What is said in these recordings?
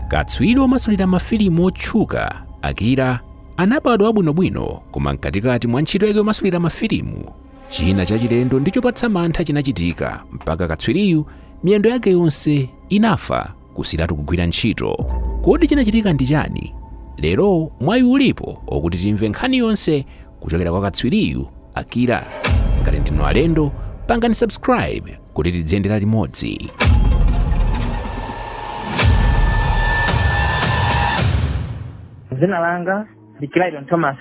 katswiri womasulira mafilimu wotchuka akira anabadwa bwinobwino koma mkatikati mwa ntchito yake yomasulira mafilimu china chachilendo ndi chopatsa mantha chinachitika mpaka katswiriyu miyendo yake yonse inafa kusiratu kugwira ntchito kodi chinachitika ndi chani lero mwayi ulipo okuti timve nkhani yonse kuchokera kwa katswiriyu akira ngati ndinu alendo pangani subscribe kuti tidziyendera limodzi. Dzina langa ndi Clayton Thomas.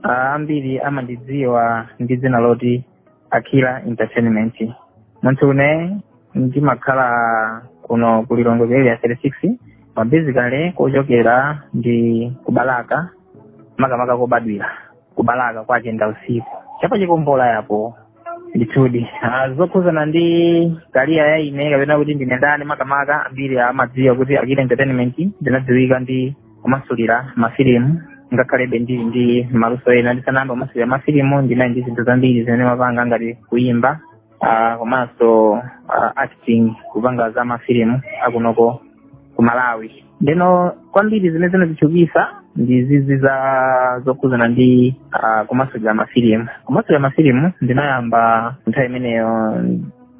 Ah, ambiri amandidziwa ndi dzina loti Akira Entertainment. Munthu une ndimakhala kuno ku Lilongwe ku area 36 basically kochokera ndi ku Balaka makamaka kobadwira. ku Balaka kwa Chendausiku cha pa Chikombola yapo ndithudi Ah, zokhuzana ndi career ya ine kapena kuti ndine ndani makamaka ambiri amadziwa kuti Akira entertainment ndinadziwika ndi kumasulira mafilimu ngakhalebe ndili ndi maluso ena ndisanayamba kumasulira mafilimu ndinali ndi zinthu zambiri zimene ndimapanga ngati kuyimba ah, komanso ah, acting kupanga za mafilimu akunoko ku malawi ndeno kwambiri zimene zinanditchukisa ndi zizi za zokhudzana ndi ah, kumasulira mafilimu kumasulira mafilimu ndinayamba nthawi imeneyo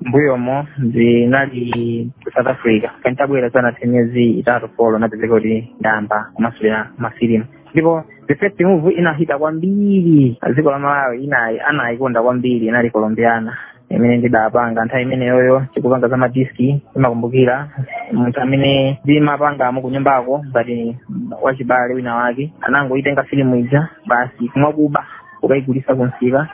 mbuyomo ndinali ku south africa nditabwera sinathe miyezi itatu folo ndinapezeka kuti ndayamba kumasulira mafilimu ndipo the first movie inahita kwambiri dziko la malawi anayikonda kwambiri inali colombiana imene ndidapanga nthawi imeneyoyo tikupanga za madiski ndimakumbukira munthu amene ndimapanga naye kunyumbako ngati wachibale wina wake anangoyitenga filimu ija basi mwakuba kukayigulisa kumsika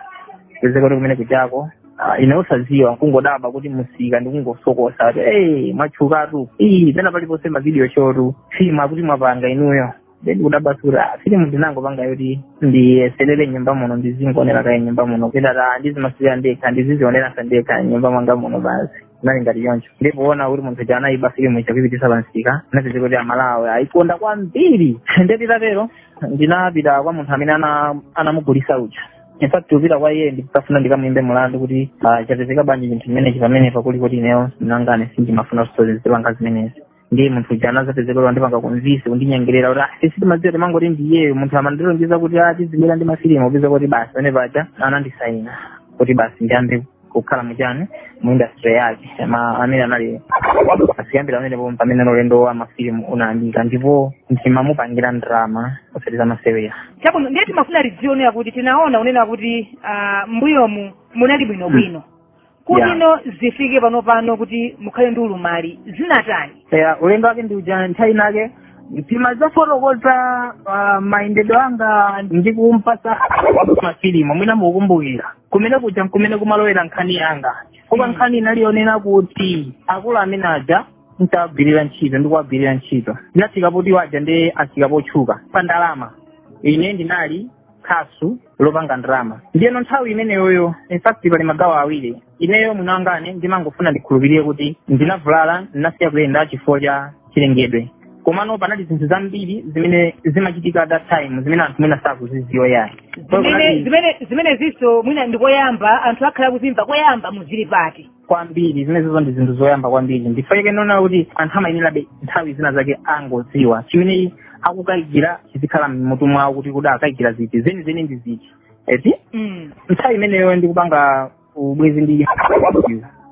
pezeka kuti kumene kujako Ah, ine osaziwa nkungodaba kuti musika ndikungosokosa kuti hey, mwatchukatu ii pena paliponse ma video show tu filimu akuti mwapanga inuyo nde ndikudabwa kuti ah filimu ndinangopanga yoti ndiyeserere mnyumba muno ndizingonera kaye mnyumba muno pitata ndizimasulira ndekha ndizizioneranso ndekha mnyumba mwanga muno basi zinali ngati choncho ndipoona kuti munthu uja anayiba filimu ija kuipitisa pansika napezeka kuti amalawi ayikonda kwambiri nde zitatero ndinapita kwa munthu amene ana- anamugulisa uja in fact kupita kwa iye ndikafuna ndikamuyimbe mulandu kuti ah, chapezeka bwanji chinthu chimenechi pamenepa poti kuti ineyo sinangane sindimafuna kuti ndizipanga zimenezi ndiye munthu uja anazapezeka kuti wandipanga convince kundinyengerera kuti ah sitimadziwa timangoti ndiyeyo munthu amandilonjeza kuti ah ndizibwera ndi mafilimu kupezeka kuti basi pamene paja anandisaina kuti basi ndiyambe kukhala muchani mu industry yake ma amene anali basi kuyambira pamene po mpamene ulendo wa mafilimu unayambika ndipo ndimamupangira ndrama osati zamasewera chabwino ndiye timafuna tidziwe nawo kuti tinaona kunena kuti ah, mbuyomu munali bwinobwino kuli ino zifike pano pano kuti mukhale ndi ulumali zinatani eya ulendo wake ndi uja nthawi inake timazafotokoza uh, mayendedwe anga ndi kumpasa mafilimu mwina mukukumbukira kumene kuja nkumene kumalowera nkhani yanga koma Mm. nkhani inali yonena kuti akulu amene aja ntawagwirira ntchito ndikuwagwirira ntchito ndinafika poti waja ndi afika potchuka pa ndalama ine ndinali khasu lopanga ndalama ndiyeno nthawi imeneyoyo in fact pali magawo awiri ineyo mwini wangane ndimangofuna ndikhulupirire kuti ndinavulala ndinasiya kuyenda chifukwa cha chilengedwe komano panali zinthu zambiri zimene zimachitika at that time zimene anthu mwina sakuziziwa yayi So zimenezinso mwina ndikoyamba anthu akhale akuzimva koyamba mu zilipati kwambiri zimenezizo ndi zinthu zoyamba kwambiri ndiye ndaona kuti anthu amayenerabe nthawi zina zake angodziwa chimene akukayikira chizikhala mmutu mwawo kuti kuti akayikira ziti zenizeni ndi ziti mm. nthawi imeneyo ndikupanga ubwenzi ndi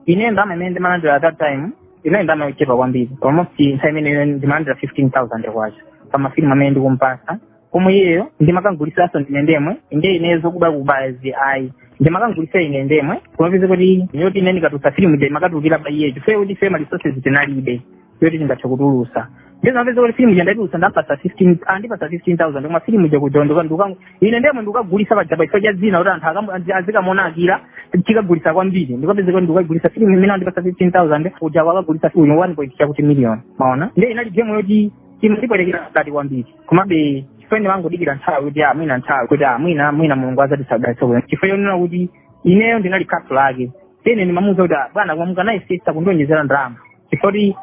ine ndalama imene ndimalandira at that time inali ndalama yochepa kwambiri almost nthawi imeneyo ndimalandira fifteen thousand kwacha pa mafilimu amene ndikumpasa koma iyeyo ndimakamgulisanso ndine ndemwe nde ine zokubakubazi ayi ndimakamgulisa ine ndemwe kumapeza kuti yoti ine ndikatulutsa filimu ija imakatulukira pa iyeyo chifukwa kuti ife ma resources tinalibe yoti tingathe kutulutsa ndizamapeza kuti filimu ija ndatulutsa ndapasa 15 andipasa 15000 koma filimu ija kuja kunjako ine ndemwe ndikagulisa paja pa chifukwa cha dzina kuti anthu akamu- azi- azikamuona Akila tikagulisa kwambiri ndikapeza kuti ndikagulisa filimu imene andipasa 15000 kuja wakagulisa filimu 1.2 chakuti million maona nde inali game yoti imandipwetekera mkati kwambiri komabe chifukwa ndimangodikira nthawi kuti ah, mwina nthawi kuti ah, mwina mwina mulungu azatidalitsa komano chifukwa chonena kuti ineyo ndinali khasu lake tene ndimamuuza kuti ah, bwana koma mukanayesesa kundionjezera ndalama chifukwa kuti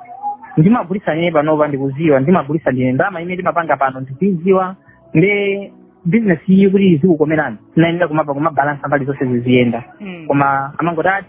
ndimagulisa ine panopa ndikuziwa ndimagulisa ndine ndalama imene timapanga pano ndikuiziwa nde business iyi kuti izikukomerani nyenera kumapa kumabalansa mbali zonse ziziyenda Mm. koma amangoti ati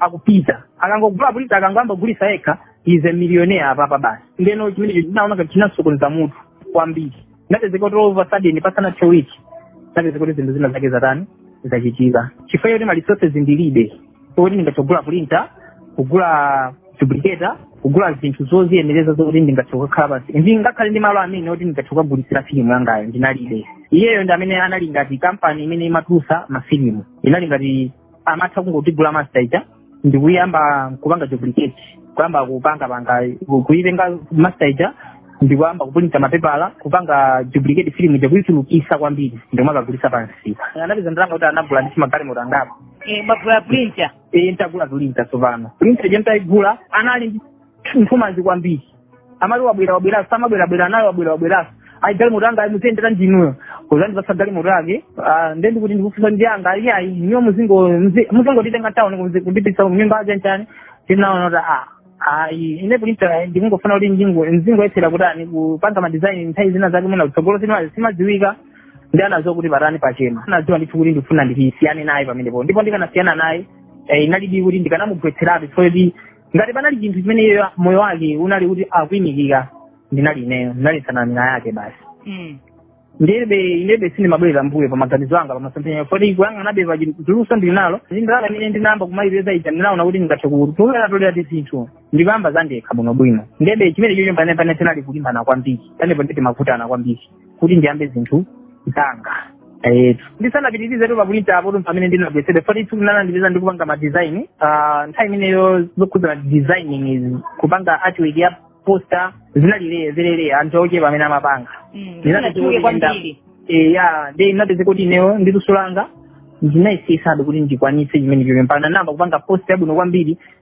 akupita akangogula printer akangoyamba kugulisa yekha is a millionaire apapa basi ndeno chimenecho ndinaona ngati chinamsokoneza mutu kwambiri napezeka kuti of a sudden pasana two weeks napezeka kuti zinthu zina zake zatani zachitika chifukwa choti ma resources ndilibe oti ndingathe kugula printer kugula duplicator kugula zinthu zoziyenereza zokuti ndingathe kukhala pansi ndingakhale ndi malo amene oti ndingathe kukagulisira filimu yangayo ndinalibe iyeyo ndi amene anali ngati kampani imene imatulusa mafilimu inali ngati amatha kungotigula master ija ndikuyamba kupanga duplicate kuyamba kupanga panga kuitenga master ija ndikuyamba kupulinta mapepala kupanga duplicate filimu ija kuichulukisa kwambiri ndikumakagulisa pansi anapeza ndalama kuti anagula ndi magalimoto angapo Eh, munagula printer e ntagula printer tsopano printer ija ntaigula anali ndi nthumanzi kwambiri amati wabwera wabwera samabwera bwera nayo wabwera wabwera ayi galimoto anga ayi muziyendera ndinuyo kuzandipasa galimoto yake ah, nde ndikuti ndikufusa ndi anga ayi ayi ineyo muzingo muzi- muzingotitenga tauni kuzi- kundipitisa kunyumba aja nchani tinaona kuti ah ayi ine printa ndikungofuna kuti njingo nzingoyesera kutani kupanga madizaini nthawi zina zake mwina kutsogolo sima- simadziwika nde anaziwa kuti patani pachema anadziwa ndithu kuti ndikufuna ndisiyane naye pamenepo ndipo ndikanasiyana naye eh, inalidi kuti ndikanamugwetseratu chifukwa kuti ngati panali chinthu chimene iye moyo wake unali kuti akuimikira ndinali ineyo ndinali nsanamira yake basi Mm. ndebe inebe sindimabwerera mbuyo pa maganizo anga pamasomphenyayo foti kuyang'anabe pa luso ndili nalo ndindalama imene ndinayamba kumayipeza ija ndinaona kuti ndingathe kutolera tolera ti zinthu ndikuyamba zandekha bwinobwino ndebe chimene chicho panepane tinali kulimbana kwambiri panepo ndi timavutana kwambiri kuti ndiyambe zinthu zanga etu ndisanapitirize tu pa printa apo pamene ndinagwetsera foti tsiku lina anandipeza ndikupanga madesign Ah, nthawi imeneyo zokhudzana designing izi kupanga artwork ya poster zinalileye zileleye anthu ochepa amene amapanga ndinatenga kwambiri eya ndi ndinapeza kuti ineyo ndi luso langa ndinayesesadi kuti ndikwanitse chimene chicho mpaka namba kupanga poster yabwino kwambiri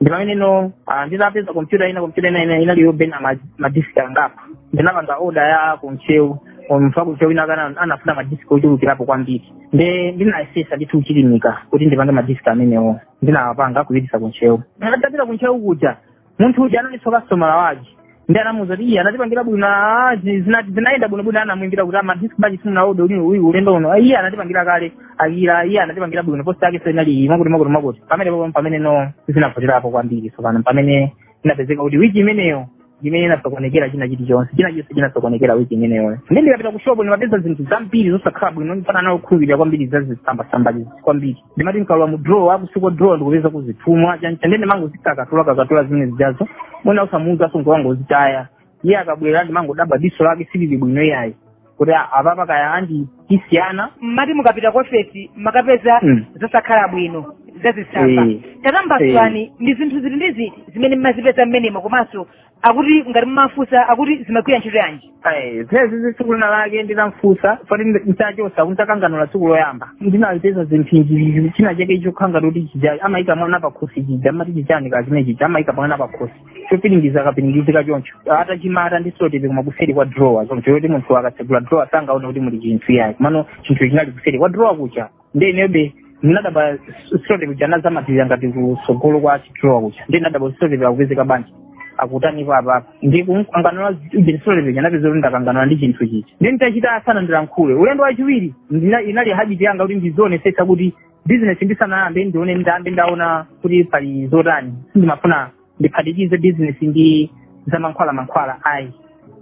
ndipameneno ah, ndinapeza kompyuta ina kompyuta ina ina inalipo bena ma- madisk angapo ndinapanga oda ya ku Ntcheu mfumu ya ku Ntcheu inakana anafuna madisk ochulukirapo kwambiri nde ndinayesesa ndithu kuchilimika kuti ndipange madisk amenewo ndinawapanga kupititsa ku Ntcheu nditapita ku Ntcheu kuja munthu uja analiso kastomala wake ndi anamuuza kuti iye anatipangira bwino ah, zi- zina- zinayenda bwino bwino anamwimbira kuti ah madisk bwanji simunaode uli uyu ulendo uno Ah, iye anatipangira kale akira iye anatipangira bwino posta yake so inali iyi mmakuti mmakuti mmakuti pamene po- pamene no zinavutirapo kwambiri tsopano pamene inapezeka kuti wiki imeneyo imene inasokonekera china chilichonse china chonse chinasokonekera wiki imeneyo ndi ndikapita ku shopu ndimapeza zinthu zambiri zosakhala bwino ndipata nawo kukhulupirira kwambiri za zisambasamba kwambiri ndimati nkalowa mu draw akusiku draw ndikupeza kuzitumwa chancha nde ndimangozikakatula kakatula zimene zijazo mwina usamuuzaso nkungozitaya iye akabwera ndimangodabwa diso lake silili bwino iyayi kuti a- apapa kaya andithu tisiyana mmati mukapita ku ofesi makapeza Mm. zosakhala bwino zazisamba Eh. tatambasulani ndi zinthu ziti ndi ziti zimene mmazipeza mmenemo komanso akuti ngati mumafunsa akuti zimagwira ntchito yanji Eh, zimenezi tsiku lina lake ndinamfunsa poti ntachosa nditakanganula tsiku loyamba ndinapeza zinthu izi china chake chokhala ngati kuti chija amayika mwana pakhosi chija amati chichani kachimene chija amayika mwana pakhosi chopiringiza akapiringizika choncho atachimata ndi seloteyipi koma kuseri kwa drawer choncho choti munthu akatsegula drawer sangaone kuti muli chinthu iyayi komano chinthu chinali kuseri kwa drawer kuja nde inebe ndinadabwa seloteyipi ija anazamatirira ngati kusogolo kwa chidrawer kuja nde ndinadabwa seloteyipi akupezeka panja akutanipo apapa ndikumkanganula ujeni seloteyipi ija napeza kuti ndakanganula ndi chinthu chichi nde nditachita asanandilankhule ulendo wachiwiri ndina- inali habiti yanga kuti ndizionesetsa kuti bizinesi ndisanayambe ndione ndiyambe ndaona kuti pali zotani sindimafuna ndiphatikize bizinesi ndi zamankhwala mankhwala ayi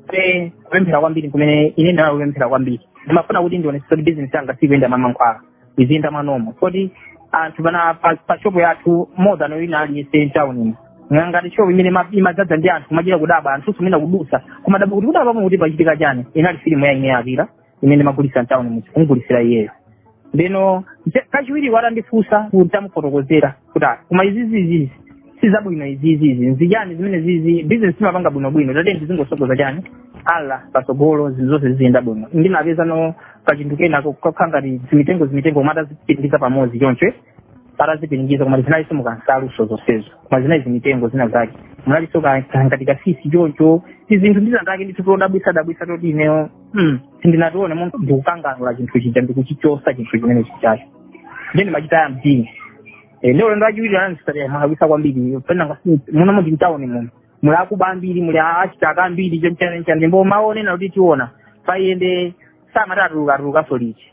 pe kupemphera kwambiri kumene ine ndinali kupemphera kwambiri ndimafuna kuti ndionetse kuti bizinesi yanga sikuyenda mwamankhwala iziyenda mwanomo kuti anthu pana pa- pa shopu yathu more than wina aliyense mtaunimo ngati shopu imene ima- imadzadza ndi anthu kumachita kudabwa anthu amene akudusa kumadabwa kuti kudabwa kuti pachitika chani inali filimu ya Naijiriya imene ndimagulitsa mtawuni muja kumugulitsira iyeyo ndeno nse- kachiwiri atandifunsa nditamufotokozera kuti "Ah, koma izizi izizi si zabwino izizi izi nzijani zimene zizi bizinesi imapanga bwinobwino timangotsogoza chani Allah patsogolo zinthu zonse ziziyenda bwino ndinapezano kachinthu kena kokhala ngati zimitengo zimitengo koma atazipiringiza pamodzi choncho atazipiringiza koma zinaliso mukansaluso zonsezo koma zinali zimitengo zina zake munalinso ngati katsitsi choncho tizinthu tina take ndithu todabwisa dabwisa toti ineyo mm, sindinationepo ndikukanganula chinthu chija ndikuchichosa chinthu chimene chijacho ndiye ndimachita ya mdini Eh, ndi ulendo wachiwiri anandisatira modabwisa kwambiri penanga muno muti mtawuni muno muli akuba ambiri muli achitaka ambiri choncho nde ndikumanena kuti tiona Patiende samati atuluka atulukanso liti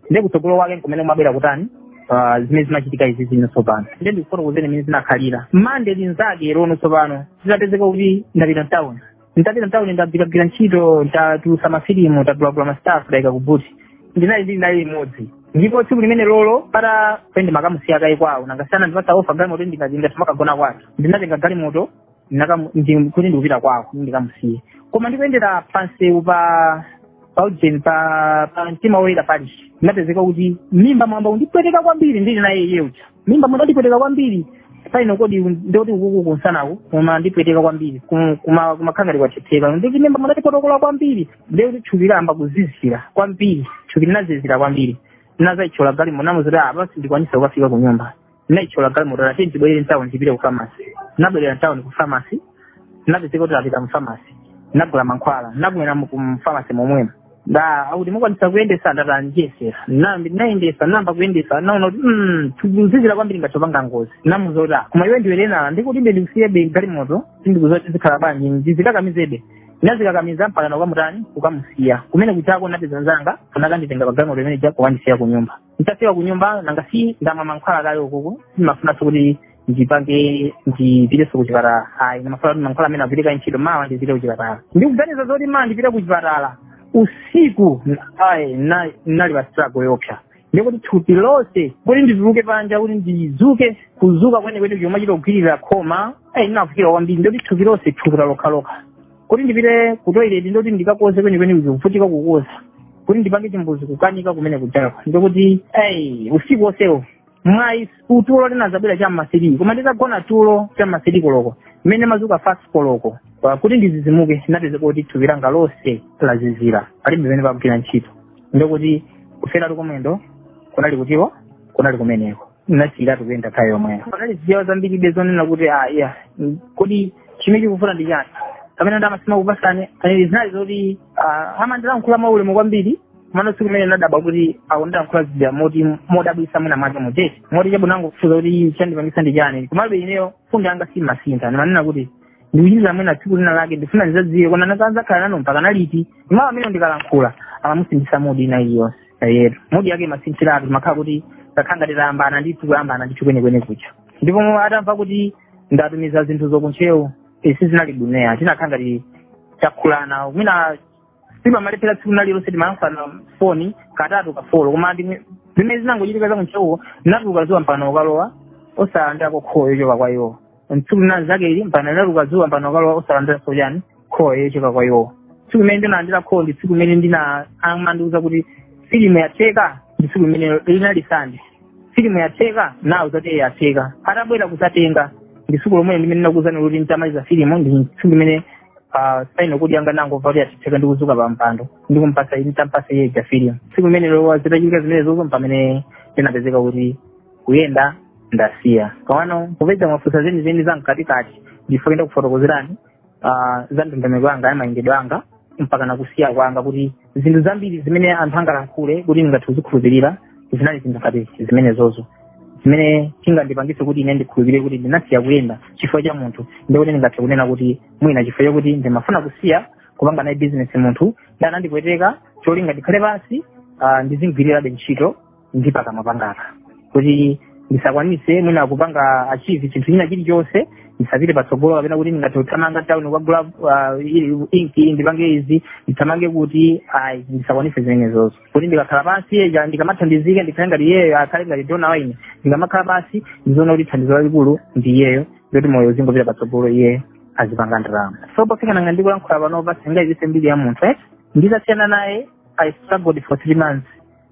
nde kutsogolo kwake nkumene kumabwera kutani ah, zimene zimachitika izi zino tsopano nde ndikufotokozeni mmene zinakhalira Mande linzakelo no tsopano zitapezeka kuti ndapita mtawuni ndapita mtawuni ndagwiragwira ntchito ndatulusa mafilimu ndagulagula masitafu ndayika kubuti ndinali ndinali limodzi ndipo tsiku limenelolo pata pende ndimakamusiya kaye kwawo nanga si anandipasa ofa galimoto ndikazinga timakagona kwathu ndinatenga galimoto Ndinakamu- ndi- kuti ndikupita kwawo kuti ndikamusiye koma ndikuyendera pansewu pa paujeni pa pa mtima woyera parish ndinapezeka kuti mmimba mwayamba kundipweteka kwambiri ndili naye iye uja mmimba mwayamba kundipweteka kwambiri paino kodi ndikuti ukuku kunsanaku kumandipweteka kwambiri Ku- kuma- kumakhala ngati kwathetheka ndikuti mmimba mwayamba kundipotokola kwambiri ndikuti thupi layamba kuzizira kwambiri thupi linazizira kwambiri ndinazayitchola galimoto namuuza kuti apa sindikwanisa kukafika ku nyumba ndinayitchola galimoto ndati ndibwerere mtawuni tipite ku famasi ndinabwerera mtawuni ku famasi ndinapezeka kuti tapita mu famasi ndinagula mankhwala ndinamwera mu- ku famasi momwemo nde akuti mukwanisa kuyendesa ndati ndiyesera nambi ndinayendesa namba kuyendesa naona kuti mm, ndikuzizira kwambiri ngati tipanga ngozi namuuza kuti "Ah, koma iwe ndiwe lena ndikuti iwe ndikusiyebe galimoto sindikuziwa kuti zikhala bwanji ndizikakamizebe ndinazikakamiza mpaka nakukamutani kukamusiya kumene kujako napeza mnzanga anakanditenga pa galimoto imene ija kukandisiya ku nyumba nditafika ku nyumba nanga si ndamwa mankhwala kale ukuku sindimafunanso kuti ndipange ndipitenso ku chipatala ayi ndimafuna kuti mankhwala amene agwire kaye ntchito mawa ndipite ku chipatala ndikuganiza zoti mawa ndipite ku chipatala usiku ayi na- nali pa struggle yoopsa ndikuti thupi lonse kuti ndituluke panja kuti ndizuke kuzuka kwenekwene kumachita kugwirira khoma ayi ndinavutika kwambiri ndikuti thupi lonse thukuta lokhalokha kuti ndipite ku toilet ndikuti ndikakodze kwenikweni ndikuvutika kukodza kuti ndipange chimbuzi kukanika kumene kuchako ndikuti ei usiku onsewo mwayi utulo linadzabwera cha m'ma six koma nditagona tulo cha m'ma six koloko mmene ndimadzuka five koloko Pa- kuti ndidzidzimuke ndinapeza kuti thupi langa lonse lazizira palibe pamene pakugwira ntchito ndikuti kufila kuti ku mwendo kunali kutiko kunali kumeneko nasiyiratu kuyenda nthawi yomweyo panali zijawa zambiribe zonena kuti ah iya mm, kodi chimene chikufuna ndi chani pamene ndi amasima kupasani panali zinali zoti ah, amandilankhula mwaulemu kwambiri komano tsiku limene ndinadabwa kuti akundilankhula zija moti modabwisa mwina mwake muthe timuti chabwino angofunsa kuti chandipangisa ndi chani komabe ineyo mfundo yanga siimasintha ndimanena kuti ndikuchitira mwina tsiku linalake ndifuna ndidzadziwe kodi ndidzakhala nanu mpaka nalo liti ndimamva mmene ndikalankhula amamusindisa mudi ina iliyonse eti mudi yake imasinthiratu timakhala kuti takhala ngati tayambana ndithu kuyambana ndithu kwenikweni kucha ndipo mu- atamva kuti ndatumiza zinthu zokuntchewu izi sizinali bwino tinakhala ngati takhumudwitsana mwina sitimalephera tsiku lililonse timayankhulana foni katatu kafolo koma ndi- zimene zinangochitika zakuntchewuko limatuluka dzuwa mpaka kukalowa osalandira call yo yochoka kwa iwo tsiku linzake ili mpaka linatuluka dzuwa mpaka kukalowa osalandiranso chani call yochoka kwa iwowo tsiku limene ndinalandira call ndi tsiku limene ndina amandiuza kuti filimu yatheka ndi tsiku limene linali sande filimu yatheka nawo zoti yatheka atabwera kudzatenga ndi tsiku lomwe limene ndinakuuzani kuti nditamaliza filimu ndi tsiku limene ah, saino kuti yanga nangomva kuti yatheka ndi kudzuka pa mpando ndi kumpasa nditampasa iye ja filimu tsiku limenelo zitachitika zimene zozo mpamene ndinapezeka kuti kuyenda ndasiya komano kupeza mafunso zeni zeni za mkatikati ndifuna ndikufotokozereni ah, za ndondomeko yanga ya mayendedwe anga mpaka nakusiya kwanga kuti zinthu zambiri zimene anthu angalankhule kuti ndingathe kuzikhulupirira zinali zinthu ngati zimenezozo zimene chingandipangitse kuti ine ndikhulupirire kuti ndinasiya kuyenda chifukwa cha munthu ndikuti ndingathe kunena kuti mwina chifukwa chakuti ndimafuna kusiya kupanga naye bizinesi munthu anandipweteka cholinga ndikhale pansi ah, ndizimugwirirabe ntchito ndi pakamwa panga kuti ndisakwanitse mwina kupanga achieve chinthu china chilichonse ndisapite patsogolo kapena kuti ndingathe kuthamanga town kukagula uh, ili- inki ndipange izi ndithamange kuti ayi ndisakwanitse zimenezozo kuti ndikakhala pansi eja ndikamathandizika ndikhale ngati iyeyo akhale ngati dona wa ine ndikamakhala pansi ndiziona kuti thandizo lalikulu ndi iyeyo ndiye moyo uzingopita patsogolo iyeyo azipanga ndalama so pofika nanga ndikulankhula panopa sindingayipitse mbiri ya munthu eh? nditasiyana naye i struggled for three months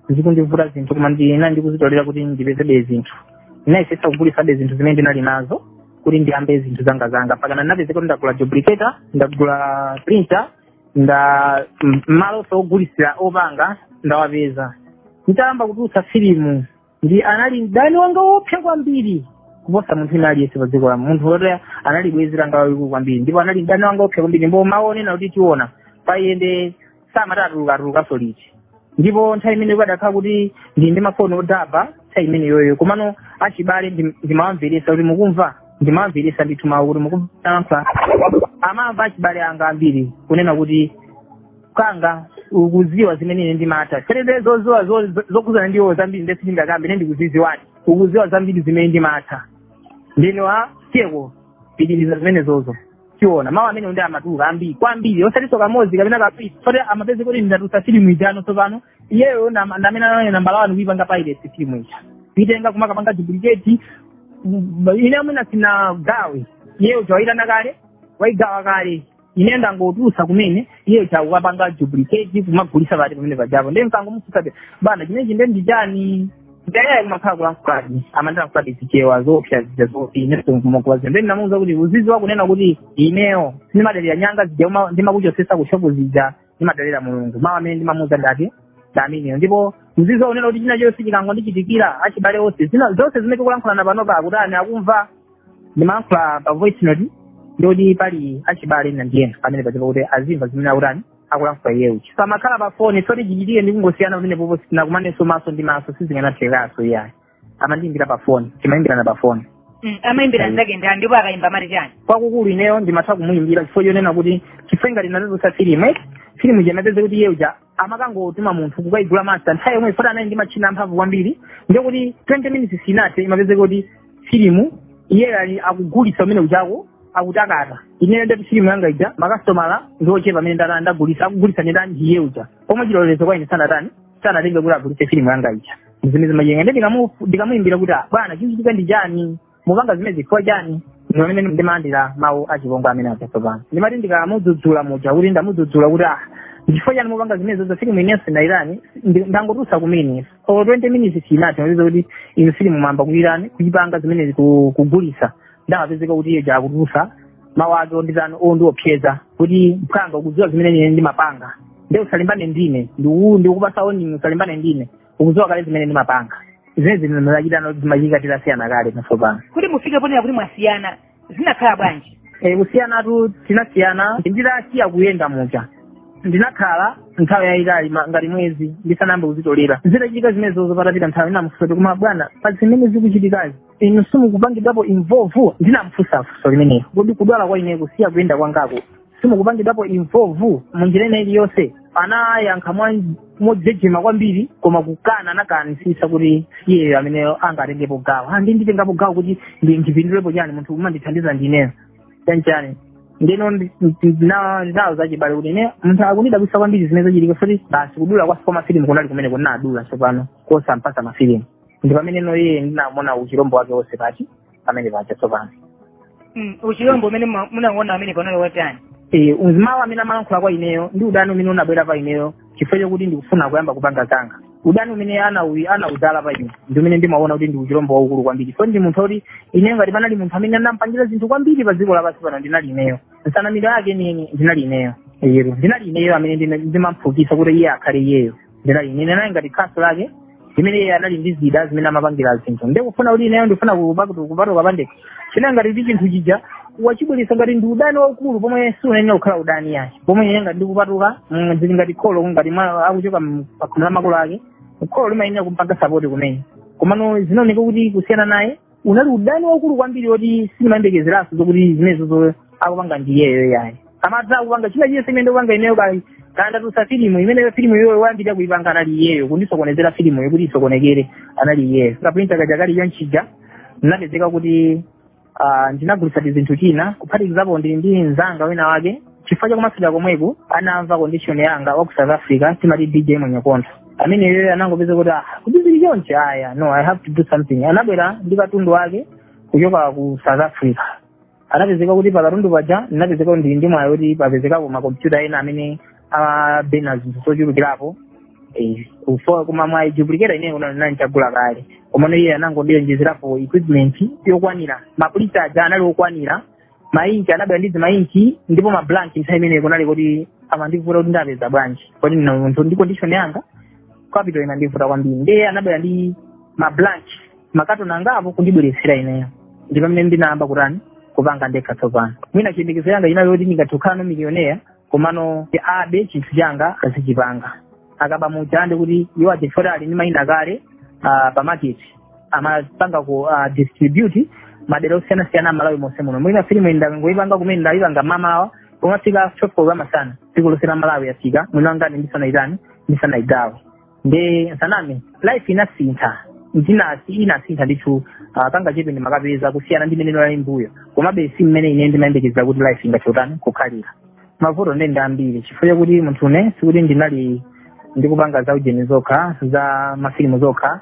zikundivuta zinthu koma ndina ndikuzitolera kuti ndipezebe zinthu ndinayesetsa kugulisabe zinthu zimene ndinali nazo kuti ndiyambe zinthu zanga zanga mpakana ndinapezeka kuti ndagula duplicator ndagula printer nda m- malo sogulisira opanga ndawapeza nditayamba kutulutsa filimu nde anali mdani wanga woopsa kwambiri kuposa munthu ina aliyense pa dziko la munthu woti anali bwezi langa walikulu kwambiri ndipo anali mdani wanga woopsa kwambiri ndipo mawu onena kuti tiona payende samati atuluka atulukanso liti ndipo nthawi imene kukadakhala kuti ndi ndi mafoni odaba nthawi imeneyoyo komano achibale ndi- ndimawamveresa kuti mukumva ndimawamveresa ndithu mawu kuti mukumva amamva achibale anga ambiri kunena kuti kanga ukuziwa zimene ine ndimatha serebe zoziwa zo- zo- zokhudzana ndiwo zambiri nde sindingakambe ine ndikuziziwadi ukuziwa zambiri zimene ndimatha ndino a tiyeko pitiriza zimenezozo tiona mawu amene ndi amatuluka ambiri kwambiri osatiso kamodzi kapena kawiri moti amapezeka kuti ndatulutsa filimu ija tsopano iyeyo nam- ndamene anali nambala wani kuipanga piracy filimu ija kuitenga kumakapanga duplicate m- ine mwina sinagawe iye uja waitani kale waigawa kale ine ndangotulusa kumene iye uja akukapanga duplicate kumagulisa pati pamenepajapo ndiye mkangomufusabe bwana chimenechi nde ndichani nde kumakhala kulankhuladi amandilankhuladi zichewa zoopsa zija zoti inenso mkumakuwazi nde ndinamuuza kuti uziziwa kunena kuti ineyo sindimadalira nyanga zija uma- ndimakuchosesa kushopu zija ndimadalira mulungu mawu amene ndimamuuza ndati ndamenewo ndipo uziziwa kunena kuti china chonse chikangondichitikira achibale onse zina zonse zimene tikulankhulana panopa akutani akumva ndimalankhula pa voice note ndikuti pali achibale ena ndi ena pamenepaja kuti azimva zimene akutani akulankhula iye uja pamakhala pa foni moti chichitike ndi kungosiyana pamenepopo sitinakumanenso maso ndi maso sizinganathekaso iyayi amandiyimbira pa foni timayimbirana pa foni Mm, amayimbira nzake ndi ndipo akayimba amati chani kwakukulu ineyo ndimatha kumuyimbira chifukwa chonena kuti chifukwa ngati ndinatulutsa filimu eh filimu ija imapezeka kuti iye uja amakangotuma munthu kukayigula masta nthawi yomweyo poti anali ndi matchina amphamvu kwambiri ndikuti 20 minutes sinathe imapezeka kuti filimu iyeyo ali akugulitsa kumenekujako akutakata ineyo ndati filimu yanga ija makasitomala ndi ochepa amene ndatani ndagulitsa akugulitsa ndi ndani iye uja pomwe chilolezo kwa ine sanatani sanatenge kuti agulitse filimu yanga ija zimene zimajenga ndi ndikamu- ndikamuyimbira kuti "Ah, bwana chichitika ndi chani mupanga zimenezi chifukwa chani ndi pamene ndimalandira mawu achipongwe amene aja tsopano ndimati ndikamudzudzula muja kuti ndamudzudzula kuti ah ndichifukwa chani mupanga zimenezozo filimu inenso ndayitani ndangotulutsa kumene or 20 minutes sinathe ndapeza kuti inu filimu mwayamba kuyitani kuyipanga zimenezi ku- kugulisa nde amapezeka kuti iye uja akutulusa mawu ake onditani ondiopseza kuti mphwanga ukudziwa zimene ine ndimapanga nde usalimbane ndine ndiku- ndikupasa warning usalimbane ndine ukudziwa kale zimene ndimapanga zimene zimene zinachitani zimachitika titasiyana kale tsopano kuti mufike ponena kuti mwasiyana zinakhala bwanji e, kusiyanatu tinasiyana nditasiya kuyenda muja ndinakhala nthawi yayitali ngati mwezi ndisanayambe kuzitolera zitachitika zimenezozo patapita nthawi ndinamufunsa kuti koma bwana pa zimene zikuchitikazi inu simukupangidwapo involve ndinamufunsa funso limenelo kodi kudwala kwa ine kusiya kuyenda kwangako simukupangidwapo involve munjira ina iliyonse anayankha mwa- mojejema kwambiri koma kukana anakanisisa kuti iyeyo amene angatengepo gawo Ah, ndi nditengapo gawo kuti ndi- ndipindulepo chani munthu umandithandiza ndineyo chanchani ndino ndi- ndi- na- ndinawo zachibale kuti ine munthu akundidabwisa kwambiri zimene zachitika foti basi kudula kwasi kwa mafilimu kunali kumene kunadula tsopano kosampasa mafilimu ndi pamene no iye ndinamuona uchilombo wake wonse pati pamene paja tsopano Mm, uchilombo umene mwa- munauona amene unali wotani Eh, zimawu amene amalankhula kwa ineyo ndi udani umene unabwera pa ineyo chifukwa chokuti ndikufuna kuyamba kupanga zanga udani umene anau- anauzala pa ine ndi umene ndimaona kuti ndi uchilombo waukulu kwambiri so ndi munthu oti ineyo ngati panali munthu amene anampangira zinthu kwambiri pa dziko lapansi pano ndinali ineyo nsanamira yake nini ndinali ineyo Yero. ndinali ineyo amene ndina- ndimamphukisa kuti iye akhale iyeyo ndinali ine ndinali ngati khasu lake imene iye anali ndi zida zimene amapangira zinthu nde kufuna kuti ineyo ndifuna kupatu- kupatuka pandekha chinali ngati kuti chinthu chija wachibweresa ngati ndi udani waukulu pomwe siunayenera kukhala udani yayi pomwe ine ngati ndikupatuka mm, zili ngati kholo ngati mwa- akuchoka m- pa khomo la makolo ake kholo limayenera kumpanga sapoti kumene komano zinaoneka kuti kusiyana naye unali udani waukulu kwambiri woti simunayembekezeranso zokuti zimenezozo akupanga ndi iyeyo yayi amatha kupanga china chiyese chimene ndikupanga ineyo nditatulutsa filimu imeneyo filimu iyoyo woyambirira kuipanga anali iyeyo kundisokonezera filimuyo kuti isokonekere anali iyeyo kaprinta kaja kali konchija ndinapezeka kuti ah, ndinagulitsa tizinthu tina kuphatikizapo ndili ndi mzanga wina wake chifukwa chakumasira komweko anamva condition yanga wa ku south africa timati dj mwenyekonda amene iyeyo anangopeza kuti ah kuti zili chonchi ayi no i have to do something anabwera ndi katundu wake kuchoka ku south africa anapezeka kuti pakatundu paja ndinapezeka ndili ndi mwayi kuti papezekapo makompyuta ena amene abena zinthu zochulukirapo Eh, kufa- koma mwayi duplicator ineyo kuna nanchagula kale komano iye anangondionjezerapo equipment yokwanira mapulisa aja anali okwanira mainki anabwera ndi zimainki ndipo mablanki nthawi imeneyo kunali kuti amandivuta kuti ndiapeza bwanji poti ndine munthu ndi condition yanga capital inandivuta kwambiri ndiye anabwera ndi mablanki makatoni angapo kundibweretsera ineyo ndi pamene ndinayamba kutani kupanga ndekha tsopano mwina chiyembekezo changa chinali choti ndingathe kukhala no miliyonera komano abe chinthu changa azichipanga akaba muja ndi kuti iwo ajefoti ali ndi mayina kale ah, pa market amapanga ku ah, distribute madera osiyanasiyana a malawi monse muno mwina filimu iyi ndakangoyipanga kumene ndayipanga mamawa pomafika 12 koloko masana dziko lonse la malawi yafika mwini wangane ndisanayitani ndisanayidziwe ndisaname life inasintha ndinasi inasintha ndithu uh, kangachepe ndimatha kupeza kusiyana ndi mmene ndinali mbuyo komabe si mmene ine ndimayembekezera kuti life ingatani kukhalira mavuto ndi ndi ambiri chifukwa chakuti munthu ine sikuti ndinali ndikupanga za ujeni zokha za mafilimu zokha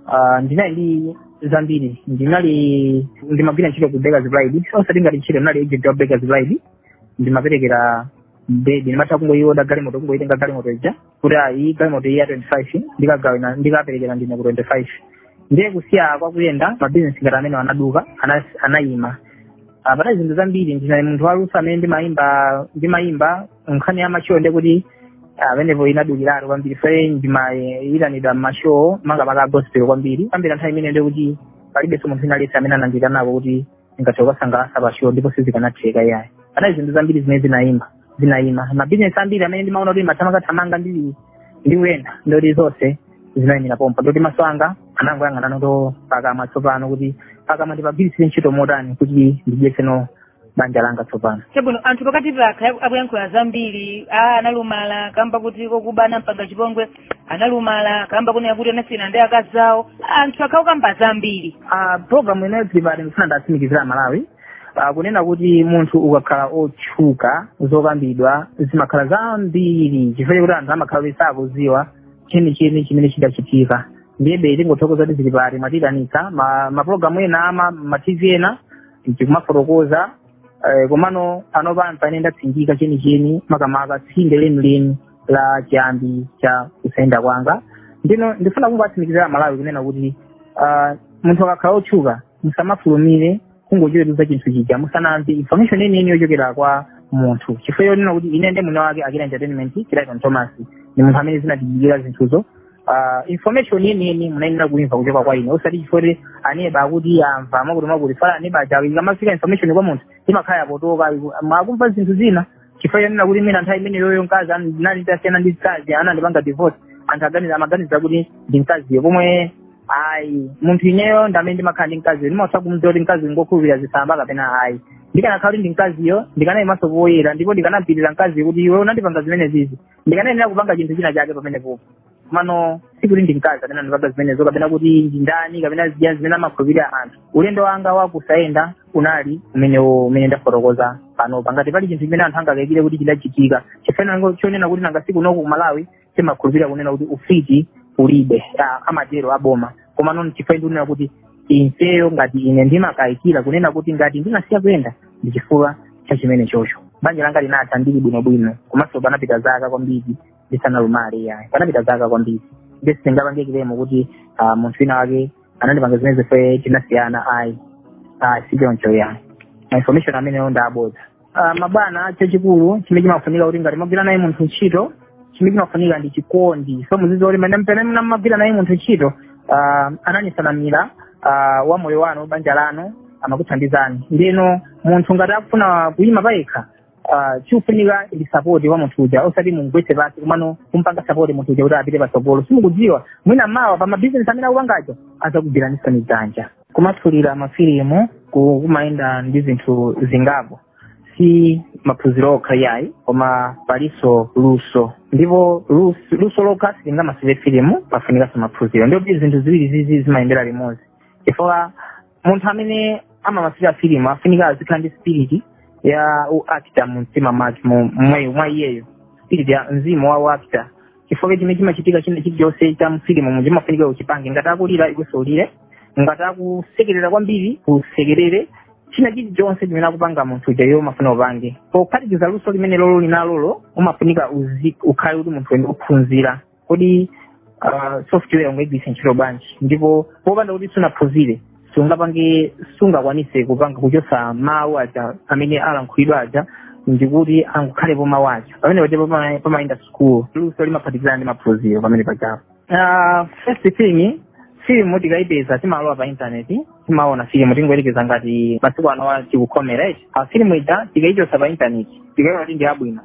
uh, ndinali ndi zambiri ndinali ndimagwira ntchito ku Bakers Pride osati ngati ntchito ndinali agent wa Bakers Pride ndimaperekera bread ndimatha kungoyiwoda galimoto kungoyitenga galimoto ija kuti ayi galimoto iyi ya 25 ndikagawina ndikaperekera ndine ku 25 ndiye kusiya kwa kuyenda mabizinesi ngati amenewo anaduka ana- anayima Ah, panali zinthu zambiri ndinali munthu waluso amene ndimayimba ndimayimba nkhani ya mashow ndiye kuti pamenepo inadukiratu kwambiri ife ndimayitanidwa mmashow makamaka gospel kwambiri kwambiri nthawi imene ndiye kuti palibenso munthu wina aliyense amene anandiitanako kuti ndingathe kukasangalatsa pa show ndipo sizikanatheka iyayi panali zinthu zambiri zimene zinayima zinaima mabizinesi ambiri amene ndimaona kuti mathamangathamanga ndili ndi kuyenda ndiye kuti zonse zinaimira pompo ndiye kuti maso anga anangoyang'anano pakamwa tsopano kuti pakamwa ndipagwiritsire ntchito motani kuti ndidyetseno banja langa tsopano chabwino anthu pakati apa akhala akuyankhula zambiri a analumala kamba kuti mkazi wake anampanga chipongwe analumala kamba kunena kuti anasiyana ndi akazi awo anthu akhala akukamba zambiri Ah, program ine ya Tili Pati ndifuna ndiwatsimikizire aMalawi Ah, kunena kuti munthu ukakhala otchuka zokambidwa zimakhala zambiri chifukwa chakuti anthu amakhala kuti sakudziwa chenicheni chimene chidachitika ndiyebe tingothokoza kuti zili pati mwatitanitsa ma, ma program ena ama ma tv ena tikumafotokoza eh, komano panopa mpamene ndatsindika chenicheni makamaka tsinde lenileni la chiyambi cha kusayenda kwanga ndiyeno ndifuna kungowatsimikizira aMalawi kunena kuti ah, munthu akakhala otchuka musamafulumire kungochitukuza chinthu chija musanamve information yeniyeni yochokera kwa munthu chifukwa chonena kuti ine ndi mwini wake akira entertainment Clayton Thomas ndi munthu amene zinandichitikira zinthuzo Ah, information yeniyeni munayenera kuimva kuchoka kwa ine osati chifukwa kuti aneba akuti amva mwakuti mwakuti fala aneba aja ikamafika information kwa munthu imakhala yopotoka akumva zinthu zina chifukwa chonena kuti mwina nthawi imeneyoyo mkazi an- ndinali nditasiyana ndi mkazi anandipanga divorce anthu aganiza amaganiza kuti ndi mkaziyo pomwe ayi munthu ineyo ndamene ndimakhala ndi mkaziyo ndimatha kumdziwa kuti mkazi ngokhulupirira zisamba kapena ayi ndikanakhala kuti ndi mkaziyo ndikanayimanso poyera ndipo ndikanampitira mkaziyo kuti iwe unandipanga zimenezizi ndikanayenera kupanga chinthu china chake pamenepopo komano sikuti ndi mkazi amene anandipanga zimenezo kapena kuti ndi ndani kapena zija zimene amakhulupirira anthu ulendo wanga wakusayenda unali umenewo umene ndafotokoza panopa ngati pali chinthu chimene anthu angakayikire kuti chidachitika chifukwa chonena kuti nanga si kunoku ku Malawi timakhulupirira kunena kuti ufiti ulibe ah, amatero aboma koma nono chifukwa ndikunena kuti ineyo ngati ine ndimakayikira kunena kuti ngati ndinasiya kuyenda ndi chifukwa cha chimenechocho banja langa linatha ndili bwinobwino komanso panapita zaka kwambiri ndisanalumale yayi panapita zaka kwambiri ndi sindingapange claim kuti ah, munthu wina wake anandipanga zimene zife tinasiyana ayi ayi sichoncho yayi ma information amenewo ndi abodza Ah, mabwana chachikulu chimene chimafunika kuti ngati mwagwira naye munthu ntchito chimene chimafunika ndi chikondi so muziziwa kuti mene pamene mnamagwira naye munthu ntchito ah, analisamalira ah, wa moyo wanu banja lanu amakuthandizani nde munthu ngati akufuna kuyima payekha ah, chikufunika ndi sapoti wa munthu uja osati mumgwetse pasi komano kumpanga sapoti munthu uja kuti apite patsogolo simukudziwa mwina mawa pa mabizinesi amene akupangawo azakugwiranisani dzanja kumasulira mafilimu ku- kumayenda ndi zinthu zingapo si maphunziro okha yayi koma palinso luso ndipo lus- luso lokha silingamasulire filimu pafunikanso maphunziro ndipo zinthu ziwirizizi zimayendera limodzi chifukwa munthu amene amamasulira filimu afunika azikhala ndi spiriti ya u actor mu mtima mwake mu- mwe- mwa iyeyo spirit ya mzimu wa u actor chifukwa chimene chimachitika china chilichonse cha mfilimu mu chimafunika uchipange ngati akulira iwenso ulire ngati akusekerera kwambiri usekerere china chilichonse chimene akupanga munthu uja iwe umafuna upange pophatikiza luso limenelolo uli nalolo umafunika uzi- ukhale kuti ndi munthu amene uphunzira kodi ah, software ungaigwiritse ntchito bwanji ndipo popanda kuti sunaphunzire sungapange sungakwanise kupanga kuchosa mawu aja amene alankhulidwa aja ndikuti angokhalepo mawu ako pamene paja pama- pamayenda sukulu luso limaphatikizana ndi maphunziro pamene pajapo Ah, first thing film tikayipeza timalowa pa intaneti timaona filimu tingoyerekeza ngati masiku anowa tikukhomera eti filimu ija tikaichosa pa intaneti tikaiona kuti ndi yabwino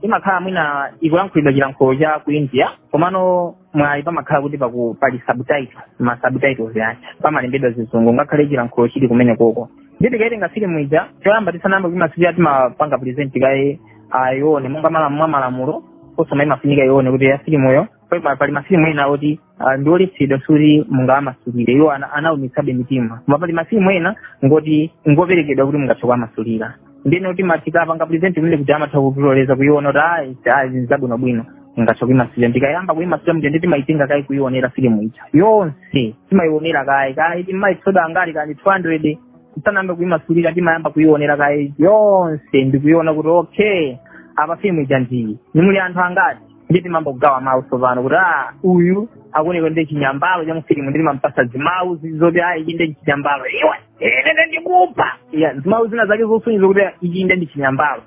imakhala mwina ikulankhulidwa chilankhulo cha ku india komano mwayi pamakhala kuti paku pali subtitle ma subtitles ake pamalembedwa zizungu ngakhale chilankhulo chili kumenekoko nde tikaitenga filimu ija choyamba tisanayambe kuimasulira timapanga present kaye ayione monga mala- mwa malamulo a censor imafunika aione kuti ya filimuyo Pa- pali mafilimu ena oti ah, ndi oletsedwa kuti mungawamasulire iwo ana- anaumitsabe mitima koma pali mafilimu ena oti ngoperekedwa kuti mungathe kuwamasulira ndiye kuti timati tikapanga present kumene kuti amatha kutiloleza kuiona kuti ayi ayi zinthu zabwinobwino mungathe kuimasulira tikayamba kuimasulira nde timayitenga kaye kuionera filimu ija yonse timayionera kaye kaye timayitsoda angati kani 200 tisanayambe kuimasulira timayamba kuionera kaye yonse ndikuiona kuti okay apa filimu ija ndiyi nde muli anthu angati nde timayamba kugawa mawu tsopano kuti a uyu akuoneka ndi chinyambalo cha mufilimu nde timampasa zimawu zoti a ichi ndi chinyambalo iwe ine ndikupha ya zimawu zina zake zosonyeza kuti ichi ndi chinyambalo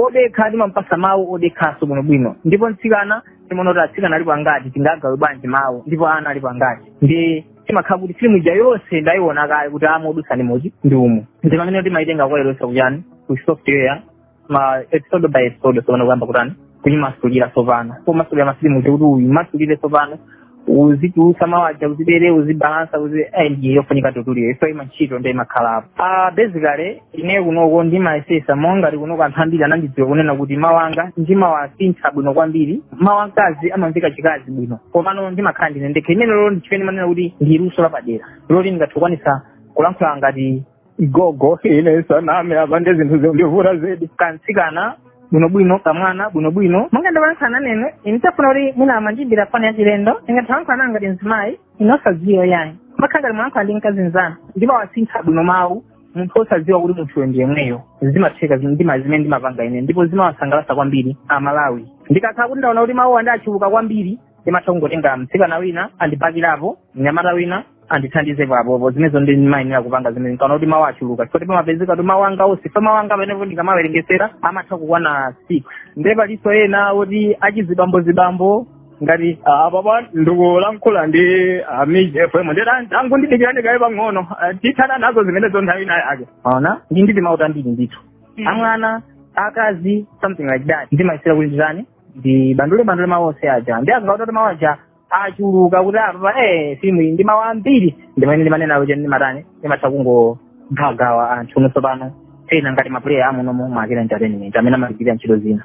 odekha timampasa mawu odekhaso bwinobwino ndipo mtsikana timaona kuti atsikana alipo angati tingagawe bwanji mawu ndipo ana alipo angati nde timakhala kuti filimu ija yonse tayiona kale kuti umo idutsa ndi muti ndi umu ndi pamene timayitenga kukailowetsa ku chani ku software ma episode by episode sopano kuyamba kutani kuyimasulira tsopano pomasulira mafilimu kuti uyimasulire tsopano uzitulutsa mawu aja uzibere uzibalansa uzi eh, ndiye yofunika tutulire ife ima ntchito ndiye imakhalapo ah basically ine kunoko ndimayesesa monga kunoko anthu ambiri anandidziwa kunena kuti mawu anga ndimawasintha bwino kwambiri mawu amkazi amamveka chikazi bwino komano ndimakhala ndine ndekha imene lolo ndichimene manena kuti ndi luso lapadera loti ndingathe kukwanisa kulankhula ngati gogo ine ndisaname apa ndi zinthu zondivuta zedi kamtsikana bwinobwino kamwana bwinobwino monga ndalankhula nane inu mutafuna kuti mwina mundiimbire foni yachilendo ndingathe kulankhula ngati mzimayi inu osadziwa yayi mukhala ngati mwalankhula ndi mkazi mzanu ndipo wasintha bwino mawu munthu osadziwa kuti munthuyo ndi yemweyo zimatheka ndima zimene ndimapanga ine ndipo zimawasangalasa kwambiri amalawi ndikakhala kuti ndaona kuti mawuwa ndi achuluka kwambiri ndimatha kungotenga mtsikana wina andibakirapo mnyamata wina andithandizepo apo zimenezo ndi ndimayenera kupanga zimene nkaona kuti mawu achuluka chifukwa pamapezeka kuti mawu anga onse pa mawu anga pamenepo ndikamawerengesera amatha kukwana six ndiye palinso ena oti achizibambozibambo ngati ah, apa pa ndikulankhula ndi ah, MIJ FM ndiye tangondidikirani kaye pang'ono Ah, tithana nazo zimenezo nthawi ina yake mwaona ndi ndi timawu tambiri ndithu Mm. amwana wamkazi something like that ndimayesera kuti nditani ndibandule bandule mawu onse aja ndikangoona kuti mawu aja achuluka kuti apapa eh filmu iyi ndi ya mawu ambiri ndi mmene ndimanena kuti ndimatani ndimatha kungogawagawa anthu tsopano ena ngati mapuleya amunomo mwa Akila entertainment amene amagwirira ntchito zina